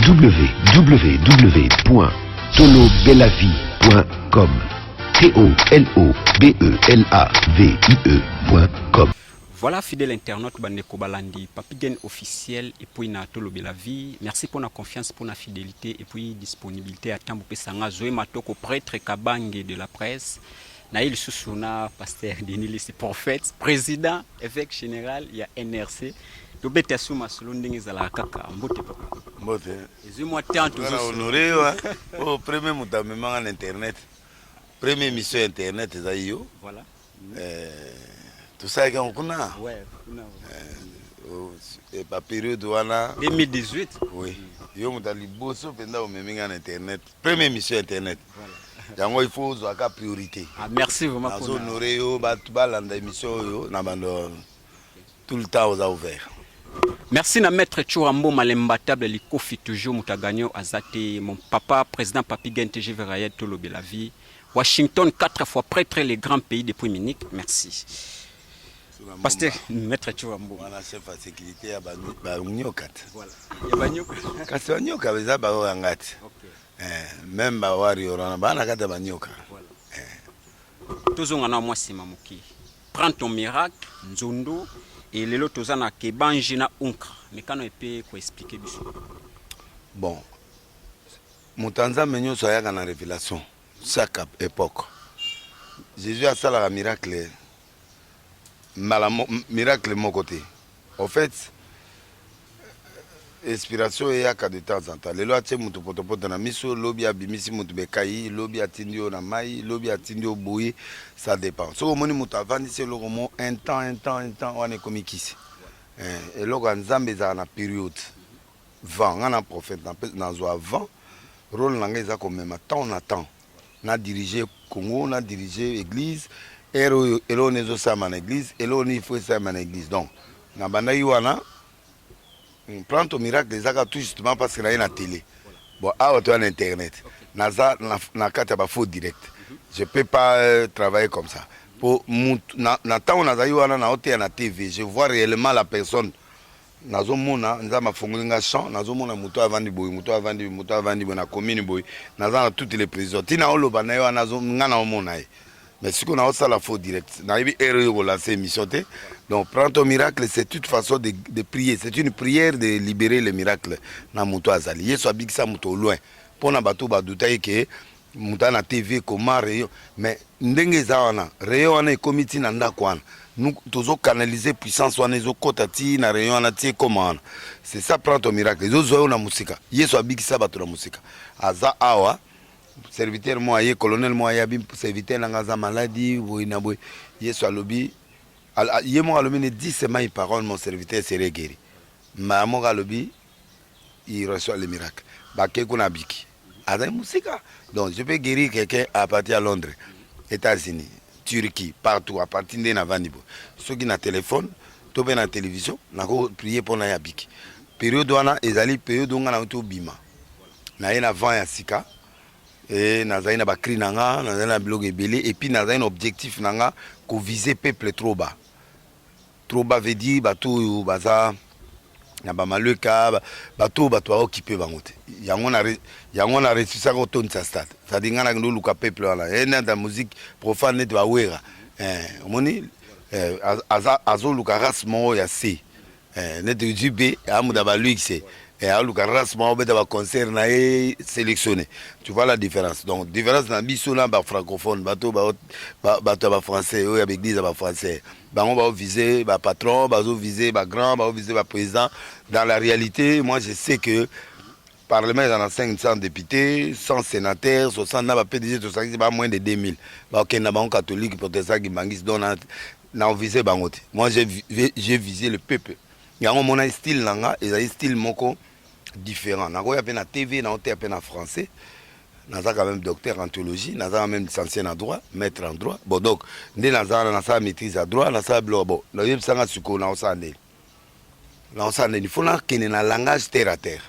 www.tolobelavie.com T-O-L-O-B-E-L-A-V-I-E.com Voilà, fidèle internaute, bande Kobalandi, Papigen officiel, et puis na Tolo la vie. Merci pour la confiance, pour la fidélité, et puis disponibilité à Tamboupé Sanga, Zoé Matoko, prêtre Kabange de la presse. naye lisusu na pasteur Denis Lisi prophète président évêque général ya NRC tobeta su masolo ndenge ezalaka kaka mbote papa mbote ezwi mwa temps tozana honore wa o premier moto amemanga na internet premier émission ya internet ezali yo voilà eh, tosalaki yango kuna ouais, kuna eh, baperiode wana 2018 oui yo moto ya liboso mpenza omemi ngai na internet Premier mission internet. yango il faut ozwa ka priorité ah, merci vraiment nazo honore yo bato balanda émission oyo na bando tout le temps oza ouvert merci na maître chura mboma l'imbattable likofi toujours moto agagno aza te mon papa président papi gen tgv rayed tolobela vie washington 4 fois prêtre le grand pays depuis munich merci Pasteur Maître Chouambo. Wana chef ya sécurité ya ba ba nyoka. Voilà. Ya ba nyoka. Kasi ba nyoka beza ba oyo ngati. Okay. Eh, même ba warrior wana ba na kata ba nyoka. Voilà. Eh. Tozonga na mwa sima moke. Prends ton miracle, Nzondo et lelo toza na Kebanji na Unkra. Mekano epe ko expliquer biso. Bon. Mutanza menyo soyaka na révélation. Mm. Chaque epoque Jesus asalaka miracle mbala miracle moko te au fait inspiration eyaka de temps en temps lelo atie moto potopoto na miso lobi abimisi moto bekai lobi atindi yo na mai lobi atindi yo boye ça dépend soki omoni moto avandisi eloko mo un temps un temps un temps wana ekomi kisi eh, eloko ya nzambe ezalaka na periode vent nga na prophète na pe na zwa vent role na nga eza ko mema temps na temps na diriger Congo na diriger église heure oyo eloko nini ezo salama na église eloko nini il faut esalama na église donc na bandaki wana hmm, plan to miracle ezaka tout justement parce que na ye na télé bon awa toya na internet naza na, na kati ya ba faux direct je peux pas euh, travailler comme ça po mutu na, na tango nazali wana na oteya na tv je vois réellement la personne nazo mona nzambe afongoli nga champ nazo mona moto avandi boye moto avandi boye moto avandi boye na commune boye naza na toute les présidents tina oloba na ye wana nga na omona ye mais sikoyo na osala faux direct nayebi heure yo kolanse émission te donc prends ton miracle c'est toute façon de, de prier c'est une prière de libérer le miracle na moto azali yesu abikisa moto au loin mpo na bato badutaki ke muta na tv koma rayon mais ndenge eza wana rayon wana ekomi ti na ndako wana tozo canalise puissance wana ezokɔta ti na rayon wana ti ekoma wana c'est ça prend ton miracle ezozwa yo na mosika yesu abikisa bato na mosika aza awa serviteur moko aye colonel moko aye abi serviteur na ngai aza maladi boye na boye yesu alobi ye moko alobi ne dis seulement une parole mon serviteur serait guéri mbala moko alobi il reçoit le miracle bake kuna abiki azali mosika donc je peux guérir quelqu'un à partir ya londres états-unis turquie partout à partir nde navandi boye soki na telefone to mpe na télévision nakoprie mpo na ye abiki periode wana ezali periode onga na tobima na ye na vent ya sika e nazali na bacri na nga nazali na biloko ebele epuis nazali na objectif na nga kovise peuple trop bas Trop bas veut dire batu oyo baza na ba malweka batu oyo batu ba occupe bango te yango na yango na resusaka kotondisa stade c'est-à-dire ngai nakende oluka peuple wana ye nata musique profane neti bawera eh, omoni eh, azoluka azo race moko ya se eh, neti jb amuda baluxe eh, aluka race moko abeta baconcert na ye sélectionné tu vois la différence donc différence na biso na bafrancophone bato bato ya bafrançais oyo ya baeglise ya bafrançais bango bao vise ba patron bazo vise ba grand bao vise ba président dans la réalité moi je sais que parlement eza na 500 député 100 sénateur 60 na ba pdg tosangisi ba moins de 2000 bakokende na bango catholique protestant kimbangisi donc na ovise bango te moi j'ai visé le peuple yango omonaki style na nga ezali style moko différent nakoya mpe na tv naoteya mpe na français naza quand même docteur en théologie naza quand même licencié na droit maître en droit bon donc nde naza na nasala maîtrise ya droit nasala biloko bon nayebisanga sikoyo naosala ndeni naosala ndeni fo nakende na langage terre à terre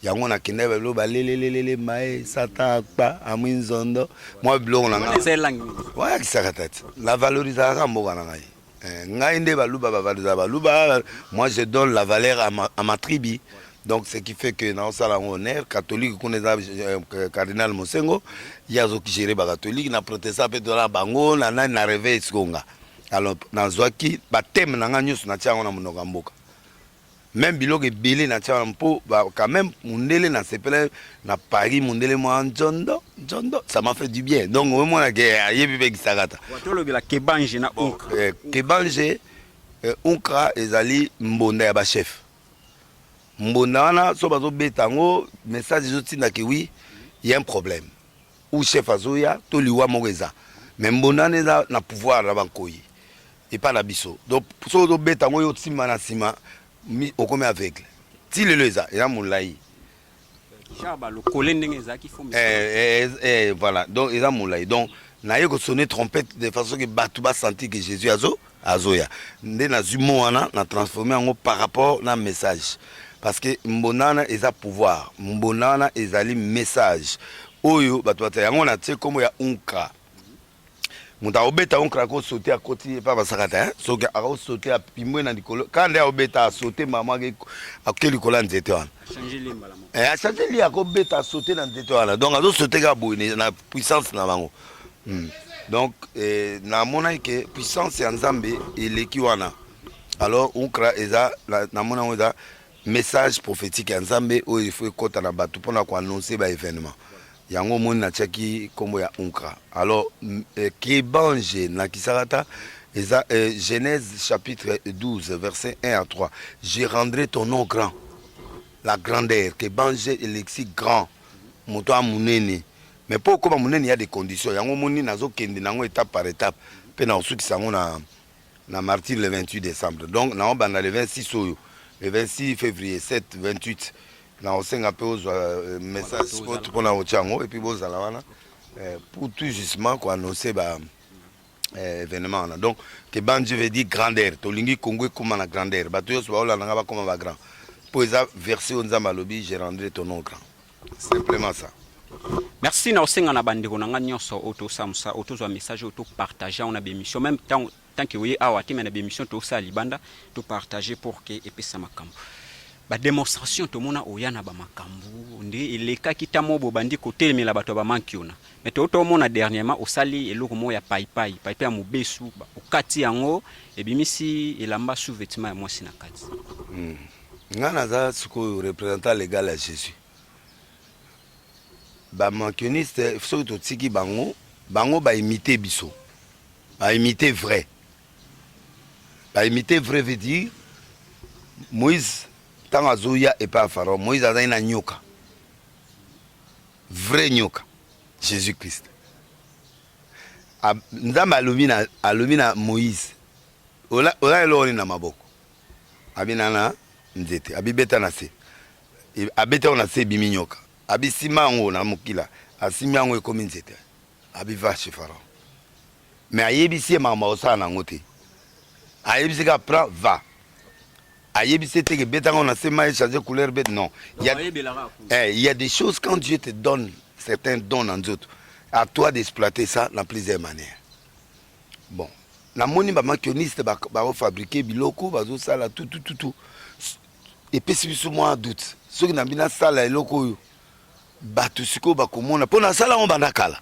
yango nakendaki babilo balelelelele mae sata akpa amwi nzondo mwa biloko na ngai wayakisaka tati na valorisaka mboka na ngai Eh, ngai nde baluba bavalisa baluba moi je donne la valeur à ma, à ma tribu donc ce qui fait que naosala yango honneur catholique kuna eza euh, cardinal mosengo ye azokigere bacatholique na protestant mpe tozala bango na nani na reve esikonga alors nazwaki bateme na ngai nyonso natia yango na monoko ya mboka meme biloko ebele na tia wana mpo quand même mundele na sepele na Paris mundele mwa njondo njondo ça m'a fait du bien donc oyo mwana ke ayebi mpe gisakata watolobela kebange na bon, eh, kebange eh, unkra ezali mbonda ya bachef mbonda wana so bazobeta yango message ezotinda ke wi ya un problème ou chef azoya to liwa moko eza mais mbonane eza na pouvoir na bankoyi epa na biso donc soki ozobeta yango yo osimba na nsima okomi aveugle ti lelo eza eza molai eh, eh, eh, voilà donc eza molai donc naye kosone trompette de façon ke bato basentir ke jésus azo azoya nde nazwi mo wana na transforme yango par rapport na message parce que mbonda wana eza pouvoir mbonda wana ezali message oyo bato bata yango na tie nkombo ya unkra moto akobeta unkra akosote akoti epa basakata soki akosote apimbwe na likolo kaka nde akobeta asote mbala mwa akoke likolo ya nzete wana achange li akobeta asote na nzete wana donc azosote kaka boye na puissance na bango Hmm. Donc eh, namonaki ke puissance ya Nzambe eleki wana. Alors ukra eza namona yango eza message prophétique ya Nzambe oyo ifo ekota na bato mpona koannonce ba événement yango omoni natiaki nkombo ya unkra alors eh, kebange nakisaka ata eza eh, genèse chapitre 12 verset 1 à 3 je rendrai ton nom grand la grandeur kebange elexi grand moto ya monene mais po okoma munene ya des conditions yango moni nazo kende nango étape par étape pe na osukisa yango na na martyr le 28 décembre donc na obanda le 26 oyo le 26 février 7 28 na osenga pe ozwa euh, message spot pona otya yango et puis bozala wana euh, pour tout justement ko annoncer ba eh, événement wana donc que bande je veux dire grandeur tolingi congo ekóma na grandeur bato nyonso baolanda nga bakóma bagrand mpo eza verse oyo nzambe alobi je rendrai ton nom grand Simplement ça. Merci na osenga na bandeko na nga nyonso oyo tosala mosala oyo tozwa message oyo topartage yango na bemission meme ntango tanke oye awa te me na bemission tosala libanda topartage pour ke epesa makambo bademonstration tomona oya na bamakambo nde elekaki ta moko bobandi kotelemela bato ya bamanki ona me touta omona dernièrement osali eloko moko ya paipai paipai ya mobesu okati yango ebimisi elamba sous-vetement ya mwasi na kati mm. Nga naza sikoyo representant legal ya Jesus. Ba mankioniste soki totiki bango, bango ba imite biso. Ba imite vrai. Ba imite vrai veut dire Moïse ntango azoya epai ya Pharaon, Moïse azali na nyoka. Vrai nyoka. Jésus Christ. Nzambe alobi na alobi na Moïse, ola ola eloko nini na maboko? Abina na nzete, abibeta na se, abeti yango na se, ebimi nyoka, abisimba yango na mokila, asimbi yango, ekomi nzete, abiva chez Pharaon. Mais ayebisi ye makambo akosala na yango te, ayebisi ka prend va ayebisi ye teke beta yango na se mai change couleur bete non il y, a, eh, il y a des choses quand Dieu te donne certains dons na nzoto à toi d'exploiter ça na plusieurs manières bon namoni ba makioniste ba, ba fabriquer biloko bazosala tutututu epesi biso mwa doute soki nambi nasala eloko oyo bato sikoyo bakomona mpo nasala yango banda kala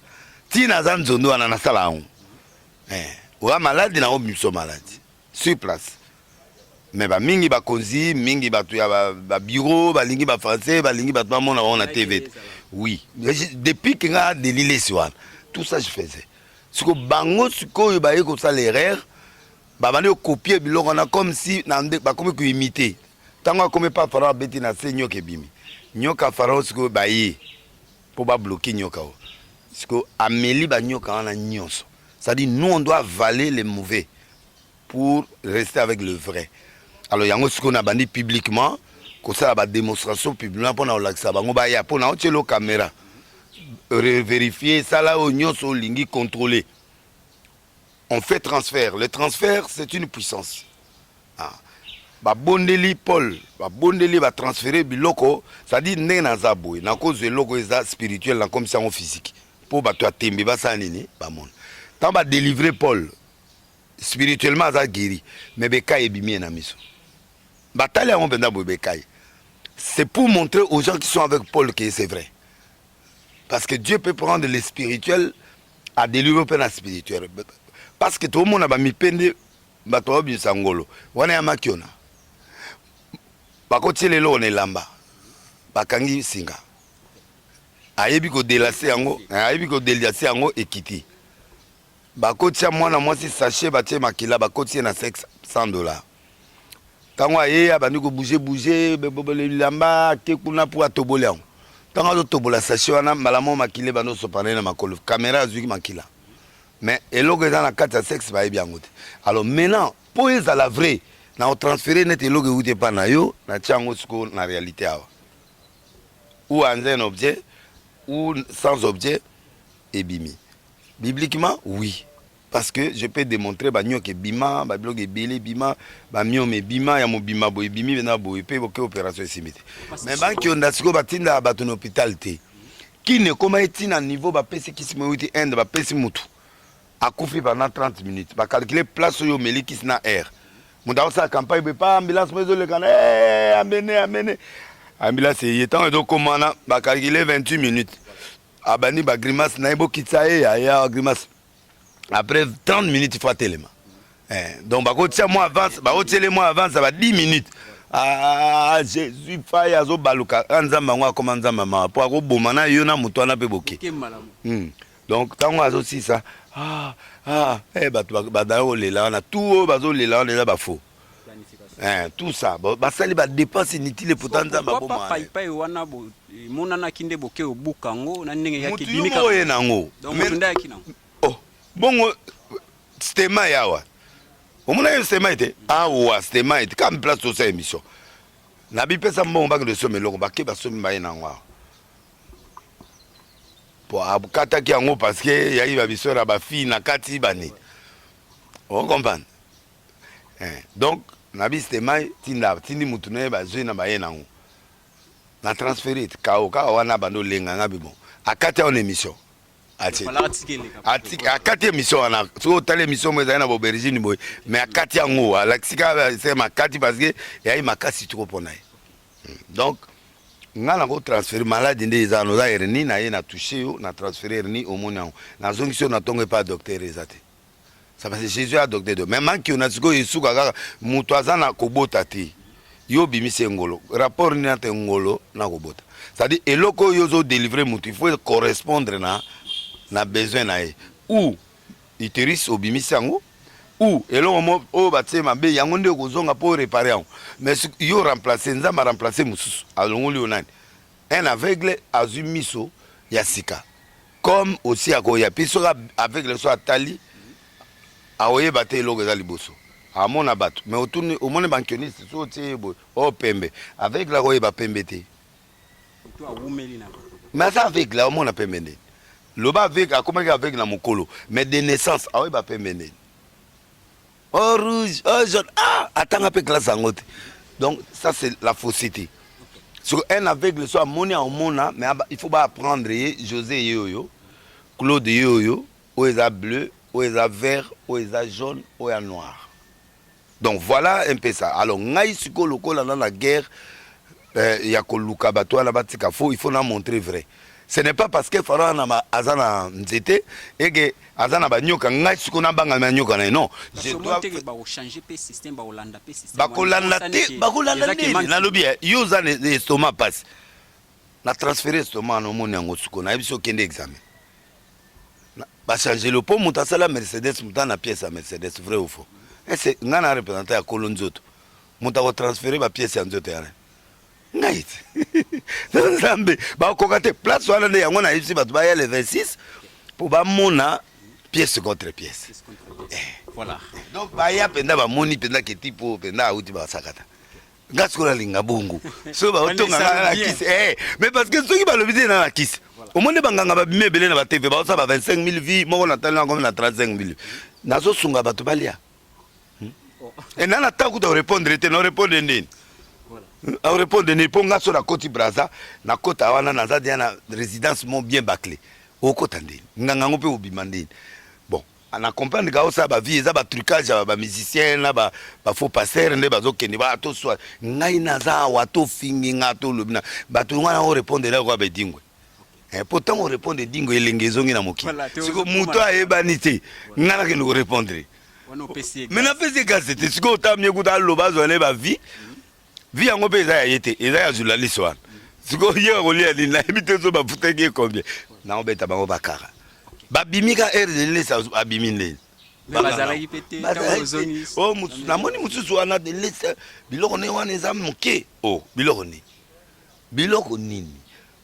ntina aza nzondo wana nasala yango eh, oya maladi na obimisa maladi sur place mais ba mingi ba konzi mingi bato ya ba bureau balingi ba français balingi bato bamona bango na tv te oui depuis que nga delilesi wana tout ça je faisais siko bango sikoyo baye kosala erreur babandi kokopie biloko wana comme si bakomi koimite ntango akomi pa farao abeti na se nyoka ebimi nyoka farao sikoyo baye Mpo ba bloquer nyoka oyo. Sikoyo ameli ba nyoka wana nyonso. C'est-à-dire nous on doit avaler les mauvais pour rester avec le vrai. Alors yango sikoyo nabandi publiquement kosala ba demonstration publiquement mpo na kolakisa bango baya mpo na otyelo camera reverifier sala oyo nyonso olingi contrôler on fait transfert le transfert c'est une puissance ah. babondeli paul babondeli batransfere biloko cetadire ndenge naza boye nakozwa eloko eza spirituel nakomisi yango physique mpo bato ya tembe basala nini bamona ntango badelivre paul spirituellement aza guéri mais bekai ebimi ye na miso batali yango mpenza boye bekai c'est pour montrer aux gens qui sont avec paul que c'est vrai parce que dieu peut prendre le spirituel adelivre mpe na spirituel parce que toomona bamipe nde bato babimisa ngolo wana ya makiona bakotiela eloko na elamba bakangi singa ayebi kodelase yango eh, ayebi kodelase yango ekiti bakotia mwana mwasi sachet batie makila bakotie na 500 dollars ntango aye abandi kobuze buze bilamba ake kuna mpo atoboli yango ntango azotobola sashe wana mbala moko makila ebandi osopana ye na makolo kamera azwiki makila mais eloko eza na kati ya sexe bayebi yango te alors maintenant mpo ezala vrai na kotransfere neti eloko euti epai na yo natia yango sikoyo na réalité awa ou anza un objet ou sans objet ebimi bibliquement oui parce que je peux démontrer banyoka ebima babiloko ebele ebima bamiome ebima ya mobima boye ebimi bena boye mpe boke opération esimbi te mais bankionda sikoyo batindaka bato na hôpital te kine ekoma eti na niveau bapesi kisi moyo euti inde bapesi motu akufi pendant 30 minutes bacalcule place oyo omeli kisi na aire moto akosala campagne boye pa ambulance moyo ezolekana eh, amene amene ambulance eye ntango ezokoma wana bacalcule 28 minutes abandi bagrimace na ye bokitisa ye yaya grimace après 30 minutes il faut atelema eh, donc bakotia mwa avance bakotiele mwa avance ya ba 10 minutes ah, ah jésus fai azobaluka a ah, nzambe yango akoma nzambe mawa mpo akoboma na yo na moto wana mpe boke hmm. donc ntango azosisa ah, ah, eh, bato badaya kolela wana tu oyo bazolela wana eza bafaux Eh, tout ça basali badepense inutile pota nzambe abomapaipai wana emonanaki nde boke obuka yango na ndenge yakiye na yango oh, bongo stema yawa omonaki stema ete awa stema ete kaka place tosa émission na bipesa mbongo bakende osomba eloko bake basomi maye na yango awa po akataki yango parceke yayiba biso na bafille na kati banini okomprendre eh, donc na bisite mai tinda tindi mutu na ye bazwi na baye nango na transfere kao kaka wana abandi olenga nga bibo akati aona émission akati émission wana soki otali émission mo ezali na baubergine boye mais akati yango alakisi kaka se makati parce que eyai makasi toko mpo na ye hmm. donc nga nango transfere maladi nde eza wana oza hernie na ye na touche yo na transfere hernie omoni yango nazongisi yo na ntongo epai ya docteur eza te Ça va, Jésus a docteur de. Mais manque on a ce que Yesu kaka mutu aza na kobota te. Yo bimise ngolo. Rapport ni na te ngolo na kobota. C'est-à-dire eloko yo zo délivrer mutu, il faut correspondre na na besoin na ye. Ou uterus obimisi yango ou eloko mo oyo batie mabe yango nde okozonga mpo réparer yango mais yo remplace nzambe aremplace mosusu alongoli yo nani un aveugle azwi miso ya sika comme osi akoya mpe soki aveugle so atali aoyeba te eloko eza liboso amona bato mais otuni omoni bankioniste so otie ye boye o oh, pembe aveugle akoyeba pembe te mais aza aveugle aomona pembe ndeni loba aveugle akomaki aveugle na mokolo mais de naissance aoyeba pembe ndeni oh rouge oh jaune ah atanga mpe classe yango te donc ça c'est la fausseté soki un aveugle so amoni aomona mais il faut baapprendre ye josé ye oyo claude ye oyo oyo eza bleu oyo eza vert oyo eza jaune oyo ya noir donc voilà un peu ça alors ngai sikoyo lokola na na guerre eh, ya koluka bato wana batika fo il faut na montrer vrai ce n'est pas parce que fara wana aza na nzete eke aza na banyoka ngai siko nabanga manyoka na ye non bakolanda te bakolanda nini nalobi eh, yo oza na estoma mpasi na transfere estoma na omoni yango siko nayebi so okende examen bachangelo mpo moto asala mercedes moto ana pièce ya mercedes vrai ou faux ese eh, ngai na représentant ya kolo nzoto moto ako transfere ba pièce ya nzoto yana ngai na nzambe bakoka te place wana nde yango nayebisi bato baya le 26 mpo bamona pièce contre pièce eh. voilà donc baya mpenza bamoni mpenza keti mpo mpenza auti basakata nga sikoyo nalinga bongo soki baotonga nga na kisi eh, mais parce que soki balobi te na na kisi omoni banganga babimi ebele na batv baosa ba 25 000 vie moko natali na komi na 35 000 nazosunga bato balia e nana ata kuta orepondre te na orepondre nini orepondre nini mpo nga so nakoti braza nakota wana naza deya na résidence mo bien baclé okota ndeni nganga yango mpe obima ndeni bon na comprendre ka osala bavie eza batrucage ya bamusicien na bafaux passer nde bazokende ba toswa ngai naza awa tofingi nga tolobi na bato ngai na orepondre eloko ya bedingwe Eh, po ntango orepondre dingo elenge ezongi na mokili siko moto ayebani te ngai nakende korepondre me napesi ekasi te sikoyo otamye kuta aloba azwa na ye bavie vi yango mpe eza ya ye te eza ya journaliste wana sikoyo ye akolia nini nayebi te so bafutaki ye combien naobeta bango bakara babimi ka aire de lesa abimi ndeni oh, namoni mosusu wana de lesa biloko ne wana eza moke o oh, biloko nini Biloko nini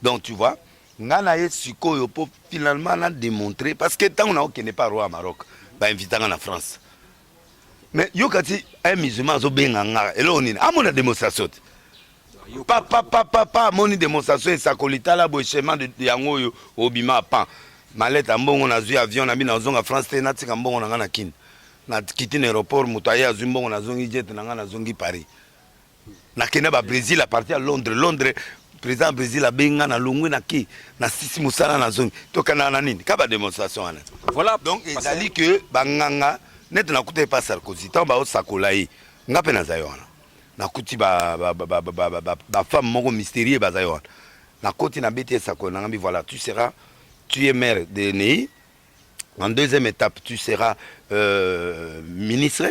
donc tu vois nga na ye sikoyo po finalement na demontrer parce que tango na okende pa roi ya Maroc ba invita nga na France mais yo kati un musulman azo benga nga eloko nini amona demonstration te papa papa papa amoni demonstration esakoli tala boye chemin de yango oyo obima pan maleta mbongo nazwi avion na bino nazonga France te natika mbongo na nga na Kin na kiti na aéroport moto aye azwi mbongo nazongi jet na nga nazongi Paris nakenda ba Brésil à partir ya Londres Londres président ya Brésil abenga na longwe na ke na sisi mosala na zongi tokenda na nini ka ba démonstration wana voilà donc ezali que banganga neti nakuta epa Sarkozy ntango baosakola ye nga mpe nazali wana nakuti bafemme moko mystérieux bazali wana nakoti nabeti esakoli nanga mbi voilà tu seras tu es maire de nei en deuxième étape tu seras euh, ministre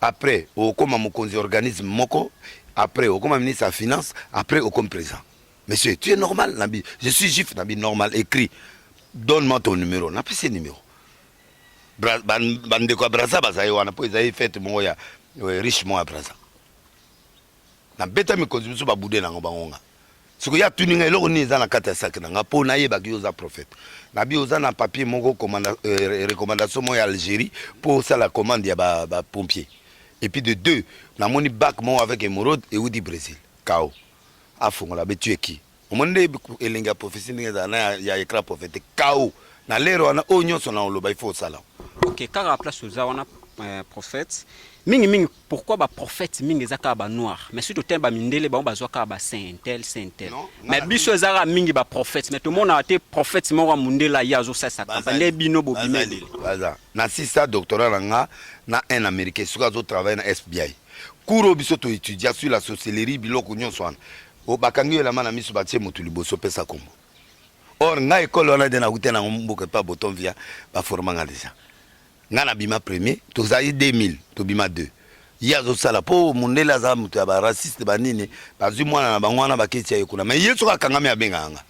après okoma mokonzi organisme moko après okoma ministre ya finance après okomi président monsieur tu es normal nabi je suis juif nabi normal écrit donne moi ton numéro napesi numéro bandeko ya braza bazali wana mpo ezali fete moko ya riche moko ya braza na beta mikonzi misu ba bude nango bango nga siko ya tuni nga eloko nini eza na kati ya sac na nga po na yeba ki oza prophète na bi oza na papier moko commanda euh, recommandation mo ya Algérie po sala commande ya ba, ba pompier et puis de deux na moni bac mo avec émeraude et udi Brésil kao afongola be tu es qui omoni nde elengi ya prophetie ndenge ezala na ya écran prophétique kao na lere wana oyo nyonso na oloba il faut osala ok kaka place oza wana euh, prophète mingi mingi pourquoi ba prophète mingi eza kaka ba noir mais surtout te ba mindele bango bazwa kaka ba saint intel saint intel mais biso eza kaka mingi ba prophète mais tomonaka te prophète moko ya mondele aye azosalisa campagne nde bino bobimeli baza na sisa doctorat na nga na un américain soki azotravaille na fbi cours oyo biso toetudia sur la sorcellerie biloko nyonso wana O bakangi yo elamba na miso batie motu liboso pesa kombo. Or nga ekole wana de nakuta nango mboka epa boton via ba forma nga deja. Nga na bima premier tozali 2000 tobima 2. Ye azosala po mondele aza moto ya ba raciste ba nini bazwi mwana na bango wana baketi ya ye kuna mais ye soki akangami abengaka nga.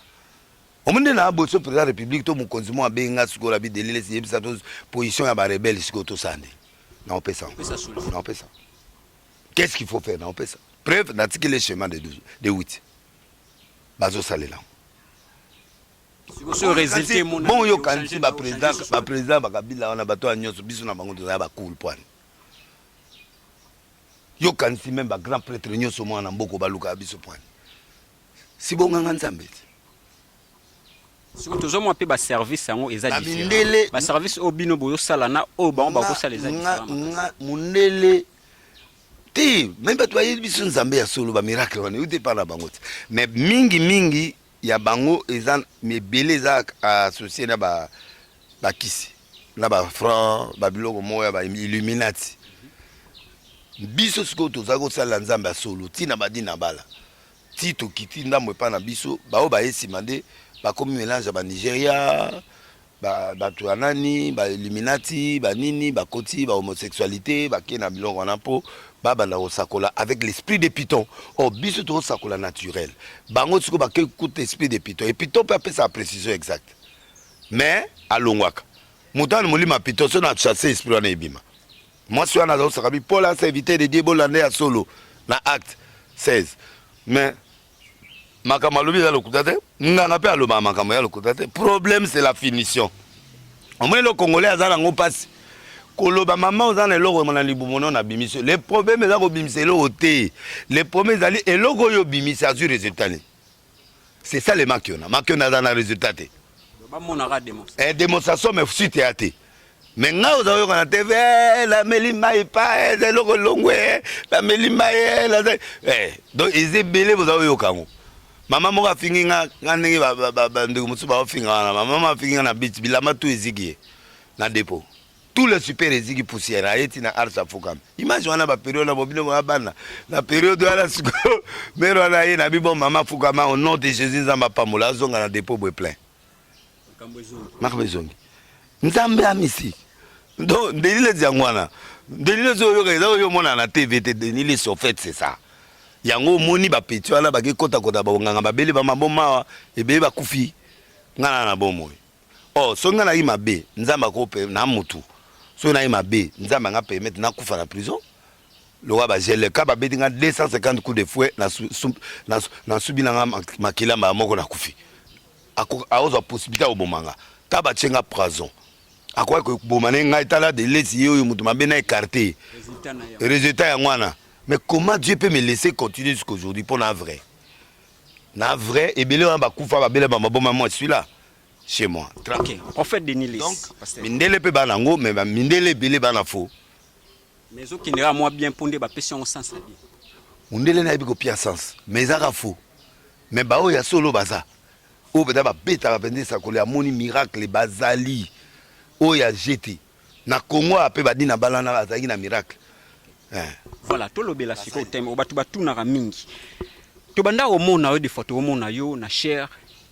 Omoni nde na boso president ya republique to mokonzi mo abengi nga sikoyo na bidelilesi yebisa to position ya ba rebelle sikoyo tosala nde. Naopesa. Naopesa. Qu'est-ce qu'il faut faire na opesa preuve na tiki le chemin de 12 de 8 bazo salela yango. Bon yo kanisi ba président ba président ba Kabila wana bato ya nyonso biso na bango toza ba cool pwani. Yo kanisi même ba grand prêtre nyonso mwana mboko baluka biso pwani. Si bonganga Nzambe. soki tozomona mpe baservice yango eza mindele baservice oyo bino bozosala na oyo bango bakosala eza mondele te meme bato bayebi biso nzambe ya solo bamiracle wana euti epai na bango te mais mingi mingi ya bango eza ebele eza associe na bakisi na bafranc babiloko moko ya bailluminati biso sikoyo tozali kosalela nzambe ya solo ntina badi na bala ti tokiti ndambo epai na biso baoyo baye nsima nde bakomi melange ya banigeria bato ya nani bailluminati banini bakoti bahomosexualité bake na biloko wana mpo babanda kosakola avec l'esprit de piton or oh, biso tokosakola naturel bango siko bakei kuta esprit de piton e piton mpe apesaka précision exacte mais alongwaka moto wana molimo ya piton so na chasse esprit wana ebima mwasi wana azosaka bipola se evite de die bolanda ya solo na acte 16 mais makambo alobi eza lokuta te nganga mpe alobaka makambo ya lokuta te problème c'est la finition omoni lo congolais aza nango mpasi koloba mama oza na eloko na libumu no na bimisi le problème eza kobimisa eloko te le problème ezali eloko oyo obimisi azwi résultat nini c'est ça le makiona makiona aza na résultat te bamonaka démonstration eh, démonstration mais suite ya te me ngai oza oyoka na tv eh, nameli mai pa eh, eza eloko elongwe eh, nameli mai donc eza ebele boza oyoka yango mama moko afingi nga nga ndenge bandeko mosusu baofinga wana mama afingi nga na bit bilamba tu eziki ye na depot tout le super eziki poussière aye ti na arts afukami image wana ba periode na bobino ba bana na periode wana siko mère wana aye na bibo mama afukama au nom de Jésus nzamba pamola azonga na dépôt boy plein makambo ezongi nzambe amisi donc ndeli lezi yango wana ndeli lezi oyoka eza oyo omona na tv te ndeli lesi ofete c'est ça yango omoni bapeti wana bakekotakota banganga babele bamabomawa ebele bakufi ngai na na bomoi Oh soki nga nayi mabe nzambe ako na mutu soki nayi mabe nzambe anga permettre nakufa na prison lokola ba gele ka babeti nga 250 coups de fouet nasubi na nga makila mbala moko nakufi akozwa possibilité ya koboma nga ka batie nga prison akoki koboma na ye ngai tala delesi ye oyo moto mabe na écarté résultat yango wana mais comment dieu peut me laisser continuer jusqu'aujourd'hui mpo na vrai Na vrai, ebele wana bakufa babele ba maboma moi suis là chez moi. Tra OK. Prophète Denis Less. Donc, pasteur. mindele pe bana ngo mais ba mindele ebele bana faux. Mais ezo kendela moi bien mpo nde bapesi yango sens ya bien. Mundele na yebi ko pia sens mais ezaka faux. Mais ba oyo ya solo baza. Oyo beta ba beta ba bende sakole amoni miracle bazali. Oyo ya jete. Na Congo a pe badi na balana azalaki na miracle. Eh. Voilà, tolobela sikoyo thème oyo bato batunaka mingi. Tobanda komona yo de fois tokomona yo na chair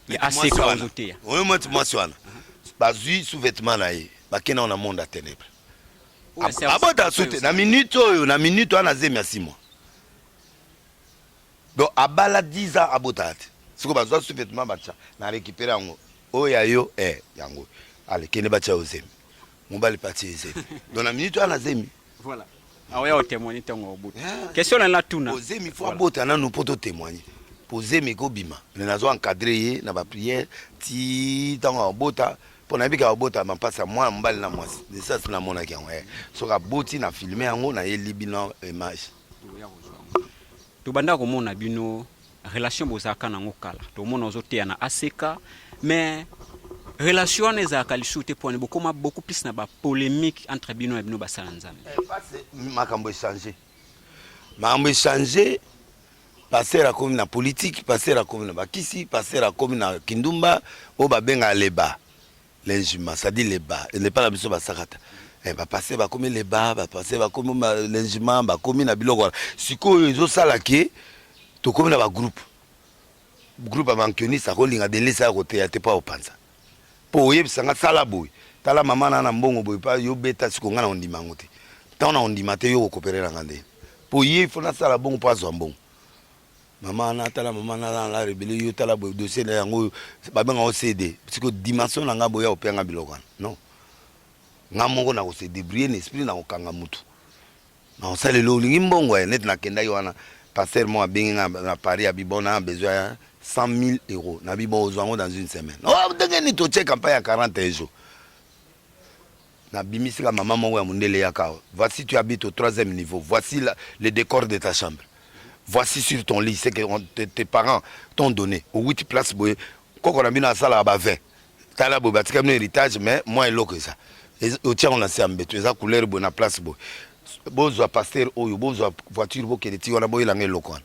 ya aseka ozoteya. Oyo mwasi mwasi wana. Bazwi sous-vêtement na ye, bakenda na monde ya ténèbres. Abota sute na minute oyo, na minute wana zemi ya simo. Donc abala 10 ans abotaka te siko bazwa sous vetement batia na recupere yango oyo ya yo eh yango ale kende batia yo zemi mobali pati ye zemi donc na minute wana zemi voilà aoya otemoigne ntongo obuta ah, question na natuna ozemi fo abota nanu mpo totemoigne mpo zemi ekobima me nazo encadre ye na bapriere ti ntango abota mpo nayebika abota mampasi ya mwana mobali na mwasi desas namonaki yango eh. soki aboti na filme yango nayelibi na image tobanda komona bino relation bozalaka nango kala tomona ozoteya na aseka mais relation wana ezalaka lisusu te pwani bokoma beaucoup plus na bapolémique entre bino na bino basala nzambe eh, makambo echange makambo echange paster akomi na politike paster akomi na bakisi paster akomi na kindumba oyo babenga leba Linjima, ça dit les bas. N'est pas la mission basakata. Eh, ba passer ba komi les bas, ba passer ba komi linjima, ba komi na biloko. Sikoyo ezo sala ke to komi na ba groupe. Groupe ya mankionisa ko linga delisa ya kote ya te pa opanza. Po oyebisa nga sala boye. Tala mama na na mbongo boye pa yo beta siko nga na ondima ngo te. Tant na ondima te yo ko kopere na nga nde. Po ye fona sala bongo po azwa mbongo. Mama na tala mama na la la rebele yo tala boye dossier na yango oyo babenga o CD parce que dimension na ngai boya opianga biloko wana non ngai moko na kose débrouiller na esprit na kokanga mutu na kosalela olingi mbongo ya neti nakendaki wana pasteur moko abengi ngai na Paris abi bon na besoin ya 100 000 euros na bi bon ozwa yango dans une semaine oh ndenge nini totie campagne ya 41 jours Nabimisi ka mama moko ya mundele ya kawa. Voici tu habites au troisième niveau. Voici la, le décor de ta chambre. Voici sur ton lit ce que on, te, tes parents t'ont donné. Au 8 place boye koko na bino asalaka ba 20. Tala boye batika bino héritage mais moi eloko eza. Otiango na se ya mbeto eza couleur boye na place boye. Bozwa pasteur oyo bozwa voiture bokende ti wana boyelanga eloko wana.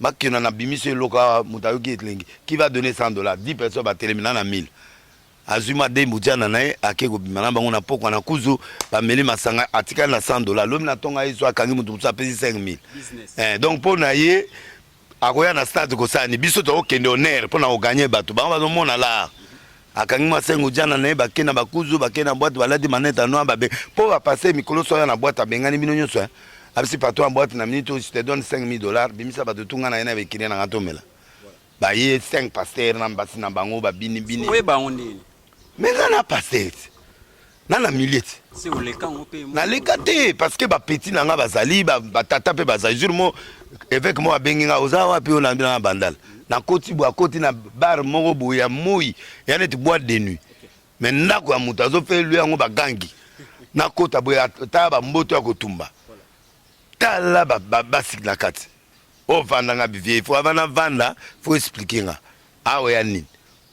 bakena na bimisi eloko awa moto ayoki elengi qui va donner 100 dollars 10 personnes batelemi na na 1000 azwi madembu jana na ye ake kobima na bango na pokwa na kuzu bameli masanga atikali na 100 dollars lobi na ntongo ayesu akangi moto mosusu apesi 5000 eh, donc mpo na ye akoya na stade kosala ni biso tokokende honneur mpo na koganye bato bango bazomona lar akangi mwa sengu jana na ye bake na bakuzu bake na bwate balati manete ya noir babe mpo bapase mikolo so aya na bwate abengani bino nyonso eh. abisi patron ya bwate na minute oyo te donne 5000 dollars bimisa bato tunga na ye na bekine na nga tomela baye 5 pasteur na mbasi na bango babini bini oye bango ndeni me nga na pasteur na na milieu ti naleka te parce que bapeti na nga bazali batata mpe bazali jour mo évêque moko abengi nga oza wapi oyo nandi na bandala nakoti boye akoti na bar moko boye ya moi ya neti boite de nuit me ndako ya moto azofelu yango bagangi nakota boye ata bamboto ya kotumba tala basi na kati ovanda nga bivie fo avanda vanda fo explike nga Awa ya nini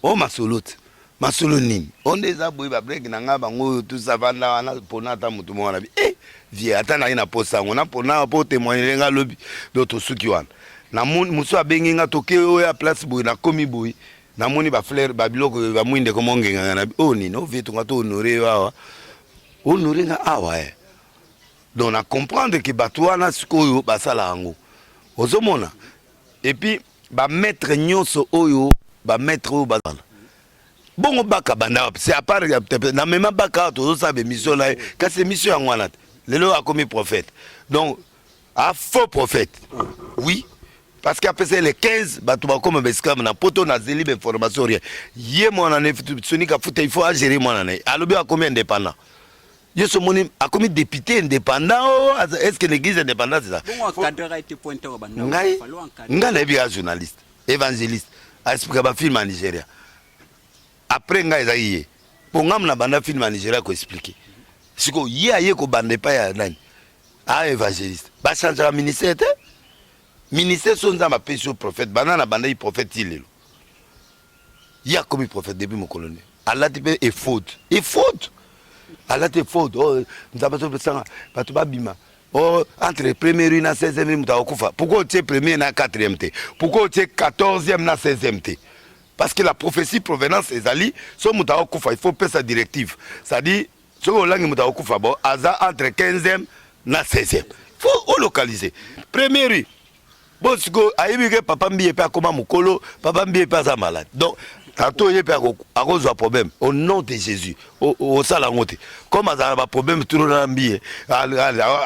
oyo masolo ti masolo nini oyo nde eza boye ba break na nga bango oyo tout ça vanda wana pona ata mutu moko na bi eh vie ata na ye na posa yango na pona po témoigner nga lobi donc tosuki wana na moni musu abengi nga toke oyo ya place boye na komi boye na moni ba fleur ba biloko ba mwinde ko mongenga nga na bi oyo nini oyo vie tonga to honorer yo awa honorer nga awa eh donc na comprendre que bato wana sikoyo basala yango ozomona epuis ba maître nyoso oyo ba maître oyo ba bongo baka banda wapi c'est à part na mema baka tozo sa émission na kasi émission yango wana lelo akomi prophète donc a faux prophète oui parce que apesa le 15 bato bakoma baesclave na poto nazeli bainformation rien ye mwana ne sonika futa il faut agere mwana na ye alobi akomi indépendant Yesu moni akomi député indépendant oh, est ce que l'église indépendante eza ngai ngai nayebi ya journaliste évangéliste aexplika bafilme ya nigeria après ngai ezaki ye mpo ngai mna banda filme ya nigeria koexplike sikoyo ye aye kobanda epai ya nani a ah, évangéliste bachangeaka ministère te ministère so nzambe apesi yo prophète banda na bandaki prophète ti lelo ye akomi prophète depuis mokolo nde alati mpe efode efode alati efode oh, nzambe azopesanga bato babima oh, entre première rue na 16e rue moto akokufa pourquoi otie première na 4e te pourquoi otie 14e na 16e te parce que la prophétie provenance ezali so moto akokufa il faut pesa directive c'est-à-dire soki olangi moto akokufa bo aza entre 15e na 16e fo olocalize premier rue bo sikoyo ayebi ke papa mbiye mpe akoma mokolo papa mbiye mpe aza malade donc tato ye mpe akozwa problème au nom de jésus osala yango te comme azala na baproblème turo na mbiye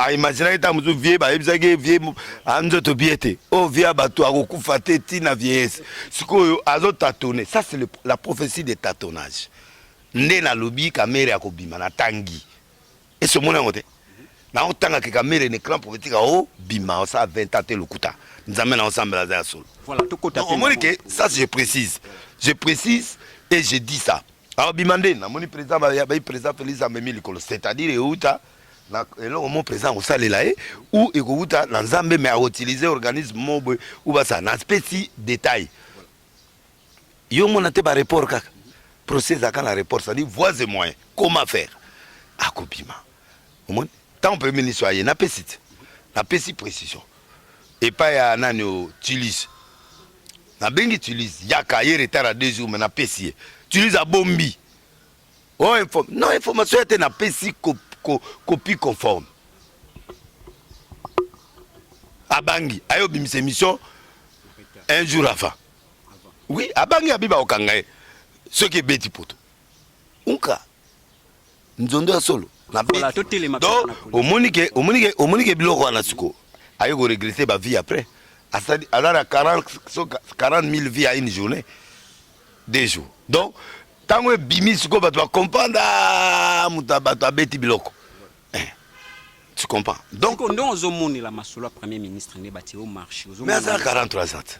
aimaginaki ntango mosusu vie bayebisaki ye vie anzoto bie te oyo oh, vie ya bato akokufa te ntina vieillesse sikoyo azotatone ça c'est la prophétie de tatonnage nde nalobi kamere akobima na tangi esi omoni yango te naotanga ke kamere na ecran politique aobima osala 20 ans te lokuta nzambe na osambela aza ya solo omoni ke ça je précise je précise et je dis ça aobima nde namoni président bai président félix amemi likolo c'est à dire euta na eloko mo président akosalela ye ou ekowuta na nzambe mais akoutilize organisme mo boye ou basala na speci détail Yo mona te ba report kaka. Procès ezaka na report, ça dit voies et moyens. Comment faire? Akobima. Omoni? Tant premier ministre aye na pesi te. Na pesi précision. Epa ya nani o Tulis. Na bengi Tulis yaka ye retard à deux jours mais na pesi ye. Tulis a bombi. Oh info. Non information ya te na pesi copie ko, ko, conforme. Abangi ayo bimisa émission un jour avant. Oui, abangi abi bakokanga ye soki ebeti poto unka nzondo ya solo na omonike omonike omonike biloko wana siko aye koregrete ba vie après aza na 40 000 vie à une journée deux jours donc ntango ebimi sikoyo bato bacomprendre ah, moto bato abeti biloko eh, tu comprends donc nde ozomonela masolo ya premier ministre nde batie o marché mais aza 43 ans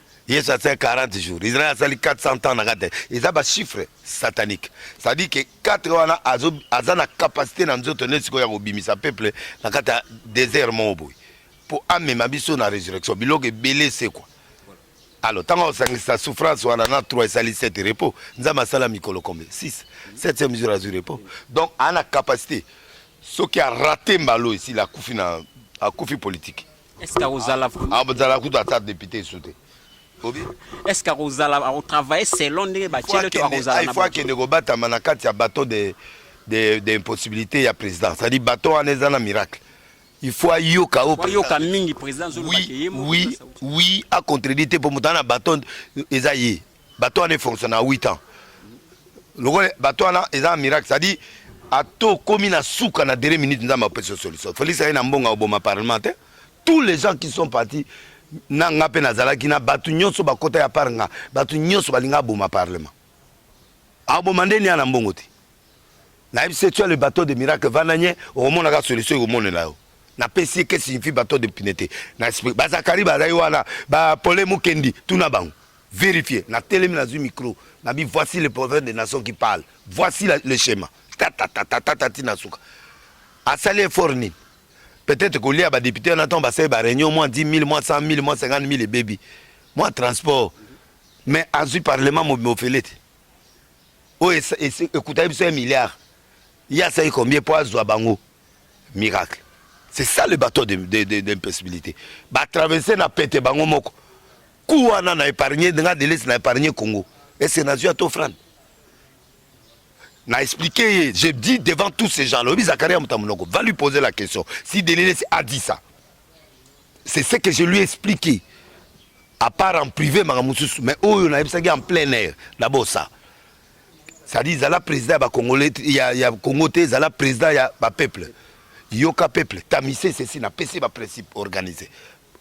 yesu asali 40 jours israel asali 400 ans na kati eza bachiffre satanique cestadire ke 4 wana aza na capacité na nzoto nde sikoyo ya kobimisa peuple na kati ya désert moko boye mpo amema biso na résurrection biloko ebele esekwa alors ntango akosangisa souffrance wana na 3 esali 7 repos nzambe asala mikolo combien 6 7e jour azwi repos donc aa na capacité soki arate mbala oyo esili akufi na akufi politike Est-ce que akozala vraiment? Akozala kutu ata député esu te. Obi? Est-ce que akozala akotravailler selon ndenge batiele to akozala na. Il faut akende kobatama na kati ya bateau de de de impossibilité ya président. C'est-à-dire bateau wana eza na miracle. Il faut ayoka o ayoka mingi président zolo oui, oui, oui, a contredite pour mutana bateau eza ye. Bato wana efonctionne na 8 ans. Lokola bato wana eza miracle, c'est-à-dire ata okomi na suka na dernière minute nzambe apesi solution. Felix aye na mbongo oboma parlement te. Tous les gens qui sont partis na nga mpe nazalaki na bato nyonso bakota ya par nga bato nyonso balinga aboma parlement aboma nde nia na mbongo te nayebisi etua le bateau de miracle vanda nye okomonaka solution ekomonela yo napesi ke signifie bateau de pine te bazakari bazali wana bapole mokendi tuna bango Verifier na telemi na zui micro na bi voici le prophète des nations qui parle voici la, le schéma tatatatata ti na suka asali effort nini peut-être kolia ba député wana ntango basali ba réunion mwa 10 000 mwa 100 000 mwa 50 000 ebebi mwa transport mais azwi parlement mobimba ofele te oyo ekutaki biso ya milliard ye asali combien mpo azwa bango miracle c'est ça le bateau d'impossibilité de, de, de, de batraverse na pete bango moko Coup wana na épargner nga Deleuze na épargner Congo. Est-ce que nazui ata offrande? na expliqué ye je dis devant tous ces gens là oyebi zakari ya moto ya monoko va lui poser la question si delelesi a dit ça c'est ce que je lui expliqué à part en privé maka mosusu mais oyo oh, nayebisaki en plein air d'abord ça c'est-à-dire ezala président ya bacongolais ya, ya congo te ezala président ya bapeuple yoka peuple tamise ceci napesi baprincipe organisé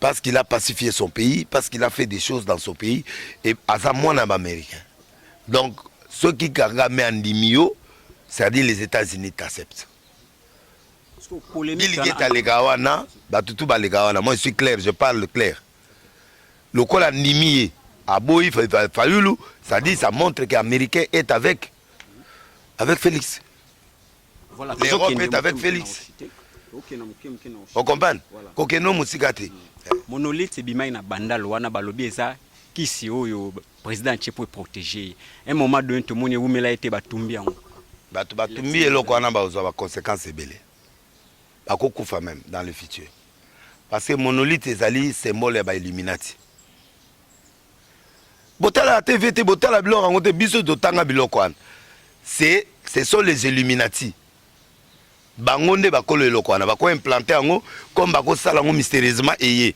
parce qu'il a pacifié son pays parce qu'il a fait des choses dans son pays et aza mwana ya baaméricain donc soki kagame andimi yo c'est-à-dire les états-unis t'accepte biligete aleka wana bato tu baleka wana moi je suis clair je parle clair lokola andimi ye aboyi fayulu c'est-à-dire ça montre que américain est avec avec félix l'europe est avec felix okomprane kokende mosika te monolite ebimaki na bandal wana balobi eza kisi oyo président atie po eprotege ye un moment donné tomoni ewumela ye te batumbi yango bato batumbi eloko wana bakozwa baconséquence ebele bakokufa meme dans le futur parce que monolite ezali symbole ya bailluminati botala la tv te botala biloko yango te biso totanga biloko wana c'est ce sont les illuminati bango nde bakolo eloko wana bako implante yango comme bakosala yango mystérieusement eye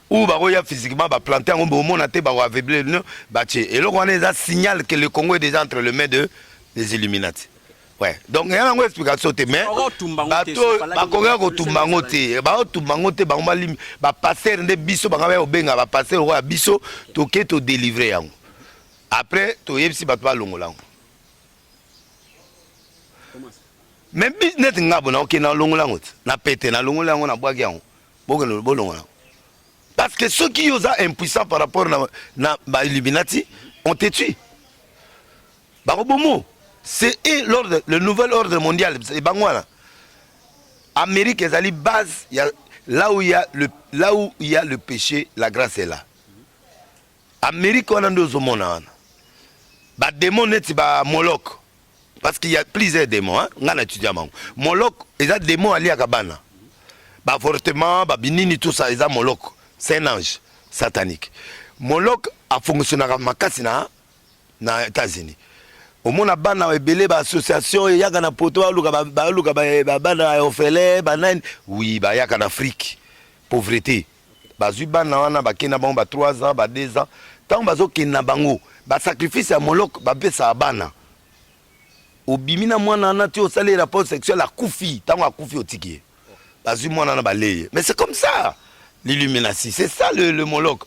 ou bakoya physiquement baplante yango bomona te bako aveugler no batie eloko wana eza signal que le congo est déjà entre le main de les illuminati Ouais. Donc il y a une explication te mais bato bakoka kotumba yango te baotumba yango te bango balimi bapastere nde biso bango baya kobenga bapastere oyo ya biso toke todelivre yango après toyebisi bato balongola yango mais neti nga bona oke nalongola yango te na pete nalongola yango nabwaki yango bokende bolongola yango parce que soki yo oza impuissant par rapport na, na bailluminati on te tue Bakobomo c'est et l'ordre le nouvel ordre mondial et bango wana Amérique ezali base ya là où il y a le là où il y a le péché la grâce est là Amérique wana ndio ozomona wana ba démon neti ba Moloch parce qu'il y a plusieurs démons hein nga na étudiant mango Moloch eza démon aliaka bana ba avortement ba binini tout ça eza Moloch c'est un ange satanique Moloch a fonctionnaka makasi na na Etats-Unis omona bana ebele ba association eyaka na poto baluka baluka bana ya ofele banani wi bayaka na Afrique pauvrete bazwi bana wana bakei na bango ba 3 ans ba 2 ans ntango bazokende na bango basacrifice ya molok bapesaka bana obimi na mwana wana ti osali rapport sexuel akufi ntango akufi otiki ye bazwi mwana na baleye mais c'est comme ça l'illuminati c'est ça le, le molok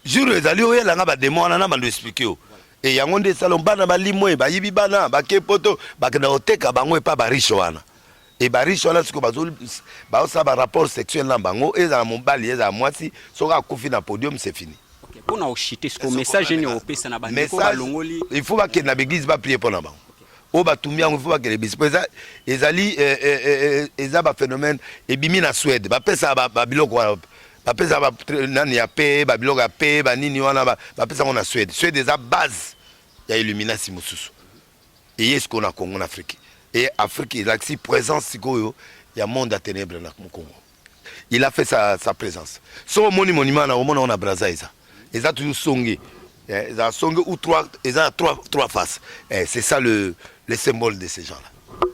jour ezali oyela nga bademo wana na bando explike yo e yango nde esalon bana balimwe bayibi bana bake poto bakenda koteka bango epa bariche wana e bariche wana siko bazosala barapport sexuel na bango ezala mobali ezala mwasi soki akufi na podium se fini mpona ochite siko message nini opesa na bandeko balongoli il faut bakende na baeglise baplie mpo na bango oyo batumbi yango ifo bakende bisi mpo ezali eh, eh, eh, eza baphénomène ebimi na swede bapesa babiloko wana bapesa ba, nani ya pe babiloko ya pe banini wana bapesa yango na Suède. Suède eza base ya illuminasi mosusu eye sikoyo na Congo na Afrique e Afrique elakisi présence sikoyo ya monde ya ténèbre na Congo. Il a fait sa, sa présence. So omoni monument na omona ona Brazza eza eza toujours songe eh, eza songe ou trois eza trois trois faces. Eh, c'est ça le le symbole de ces gens-là.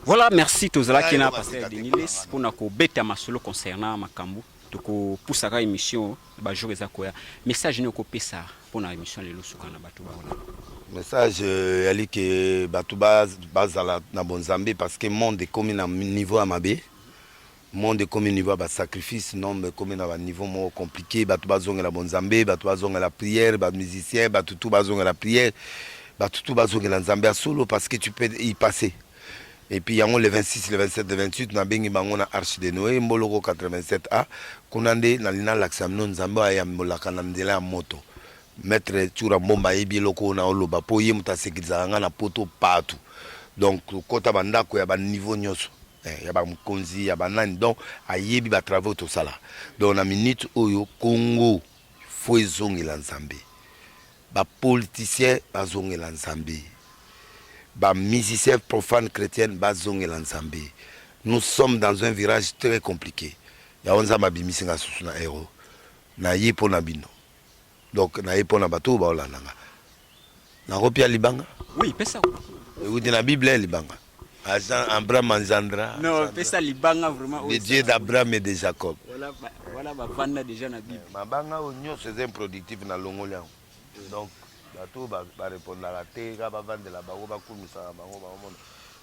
Voilà, merci tozalaki na pasteur Deniles mpona kobeta masolo concernant makambo tokopusaka émission ba jour eza koya message nini okopesa mpo na émission lelo suka na bato baona message euh, yali ke bato bazala na bonzambe parce que monde ekomi na niveau ya mabe monde ekomi niveau ya basacrifice nombre ekomi na baniveau moko compliqué bato bazongela bonzambe bato bazongela prière bamusicien bato tu bazongela prière bato tu bazongela nzambe ya solo parce que tu peux y passer et puis yango le 26 le 27 le 28 nabengi bango na arche de noe mboloko 87 a kuna nde nalingi nalakisa bino nzambe oyo ayambolaka na nzela ya moto maître tsura mbomba ayebi eloko oyo naoloba mpo ye moto asekilisaka ngai na poto partout donc kokota bandako ya baniveau nyonso eh, ya bamokonzi ya banani donc ayebi batravau tosala donc na minute oyo congo fo ezongela nzambe Ba politiciens bazongela Nzambe, ba musiciens profanes chretiennes bazongela Nzambe, nous sommes dans un virage très complique, yango Nzambe abimisi nga susu na Euro, naye po na bino, donc naye po na bato oyo baolanda nga, nakopia libanga? Oui, pesa. Ewuti na bible libanga? Azan Ambra Manzandra. Non, pesa libanga vraiment. Le Dieu d'Abraham et de Jacob. Voilà, bah, voilà bah, vanda déjà na Bible. Eh, mabanga au nyo c'est improductif na longoli yango. Donc bato ba, ba répondre la te ka ba vanda la bango ba kumisa bango ba mona.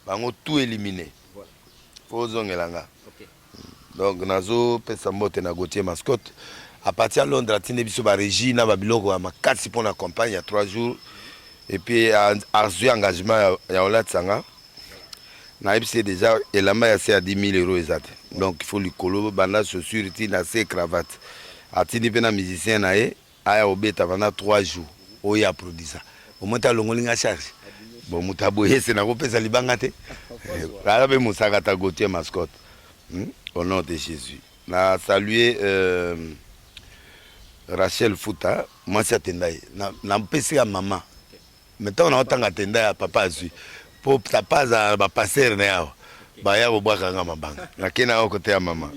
Bango tout éliminé. Voilà. Faut zongela nga. OK. Donc nazo pesa mbote na Gauthier Mascotte à partir ya Londres atindi biso ba régie na ba biloko ya makasi mpo na campagne ya 3 jours et puis azwi engagement ya, ya olatisa nga nayebisi ye déjà elamba ya se ya 10 000 euro eza te donc il faut likolo banda chaussure ti na se cravate atindi mpe na musicien na ye Aya kobeta pendant trois jours oyo ye aprodisa omoni te alongoli nga charge bon moto ya boye se nakopesa libanga te aza mpe mosaka ta gautier mascotte hmm? au nom de jésus na salue euh, rachel futa mwasi atenda ye napesi na ya mama Mais tango na otanga tenda ya papa azui po papa azala na ba pasteur na yawa baya kobwaka nga mabanga na kena yao kote ya mama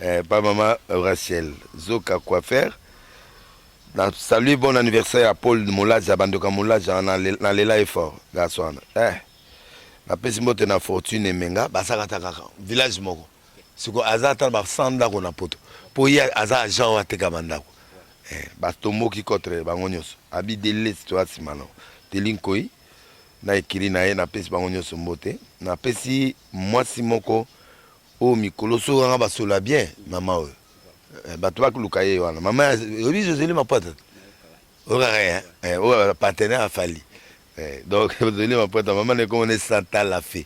eh, pa mama Rachel zoka coiffer na salut bon anniversaire ya Paul Mulaja bandoka Mulaja na lela ye fort gaswana eh napesi mbote na fortune emenga basakata kaka village moko siko aza ata ba 100 ndako na poto po ye aza agent oyo ateka ba ndako eh, batomboki contre bango nyonso abi delesi toya nsima nao teli nkoi na ekiri na ye napesi bango nyonso mbote napesi mwasi moko oyo mikolo soki anga basola bien mama oyo eh, bato bakoluka ye wana mama oyebi joseli mapwata oyokaka ye eh, oyo partenaire afali donc joseli mapwata mama na ekomona esantala fe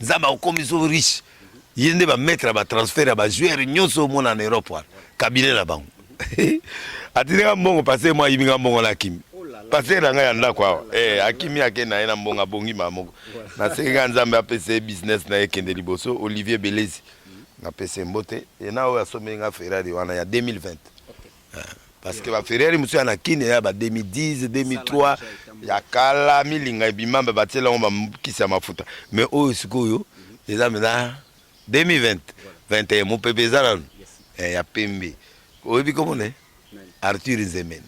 Nzambe akomi so riche. Ye nde ba maître ya ba transfert ya ba joueurs nyonso omona na Europe wana. Cabinet na bango. Atindi nga mbongo passer moi yibi nga mbongo na kimi. Passer na nga ya ndako awa. Eh akimi ake na ye na mbongo abongi ma moko. Na sengi nga Nzambe apesa ye business na ye kende liboso Olivier Belezi. Na pese mbote. Ye na oyo asombeli nga Ferrari wana ya 2020. parce que ba ferrari mosusu ya na kine ya ba 2010 2003 ya kala milinga ebima ba batiela yango bakisa mafuta mais oyo sikoyo eza mpenza 2020 21 mopepe eza nanu eh, ya pembe oyebi komona eh? arthur nzemeni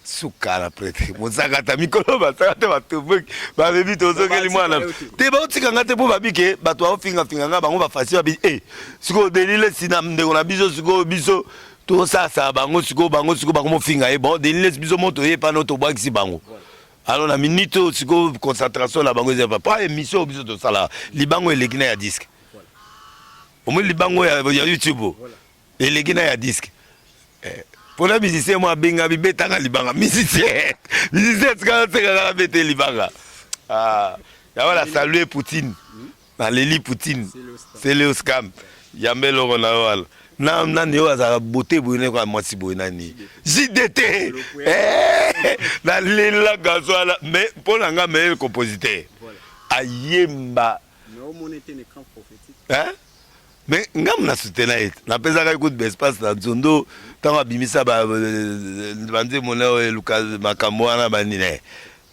suka na prete mozakata mikolo basaka te batomboki babebi tozokeli mwana te baotika nga te mpo babike bato baofingafinga nga bango bafasi babi e eh, sikoyo delile sina ndeko na biso sikoyo biso to sasa bango siko bango siko bango mofinga ye bon denis les biso moto ye pano tobwakisi bango alors na minute oyo siko concentration na bango ezali pa émission oyo biso tosala libango eleki na ya disque omoni libango ya, ya youtube eleki na ya disque eh. mpona musicien mwa abenga bibetanga libanga musicien musicien tikala sekaka na bete libanga ah. yawana salue poutine naleli poutine seleos kam yamba eloko na yo wana na nani oyo azalaka bote boye nayeko ya mwasi boye nani jdt eh, nalela gaso wana me mpo na nga meilleur compositeur ayemba mais nga mna soutena ye na pesa ka coup de espace na nzondo tango abimisa ba banze mona eluka makambo wana ba nine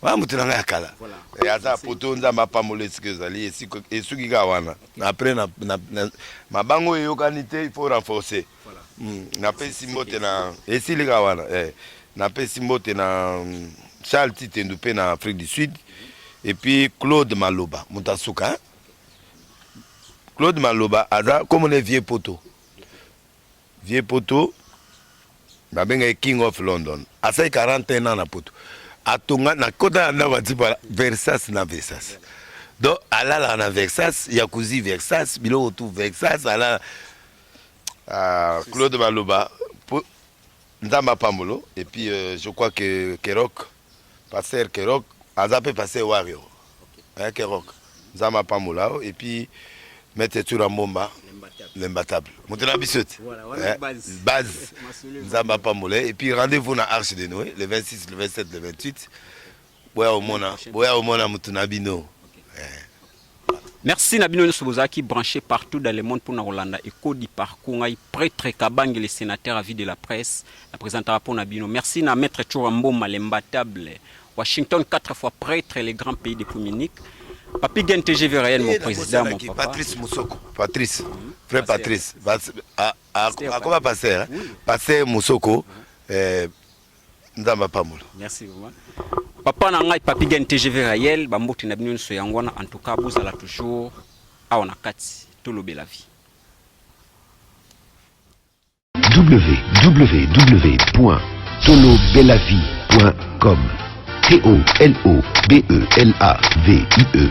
wana moto na ngai ya kala eh, aza poto nzambe apambola esika ezali esuki kaka wana après na, na, na, mabango eyokani te il faut renforcer voilà. mm, napesi mbote na esili kaka wana eh, napesi mbote na mm, charles titendu mpe na afrique du sud et puis claude maloba moto asuka hein? Claude Maloba aza comme on est vieux poto. Vieux poto babengaki King of London. Asali 41 ans na poto. Atonga na kota ya ndako atipa Versace na Versace. Donc alalaka na Versace, Yakuzi Versace, biloko tout Versace alala ah, Claude Maloba nzambe apambolo et puis euh, je crois que kerok Pasteur Kerock aza mpe Pasteur Warrior. Eh, Kerock. Nzambe apambola yo et puis Maître Tsura Mbomba l'imbattable. Moto na biso te. Voilà, wana Eh, base. base. Masolo Nzambe apambola ye. et puis rendez-vous na Arche de Noé le 26, le 27, le 28. Boya omona, boya omona moto na bino. Merci na bino nyoso bozalaki branche partout dans le monde pona kolanda Echo du parcours ngai pretre Kabange le sénateur à vie de la presse na presentaka pona bino. Merci na maître Tshora Mboma l'imbattable Washington 4 fois pretre le grand pays depuis Munich. Papi Gen TGV Ryan mon président mon papa. Patrice Musoko. Patrice. Frère Patrice. Akoba pasteur. Pasteur Musoko. Eh, Nzambe apambola. Merci vraiment. Papa na ngai Papi Gen TGV Rayel, ba mbote na bino nso yango wana en tout cas bozala toujours awa na kati tolobela vie. www.tolobelavie.com T O L O B E L A V I E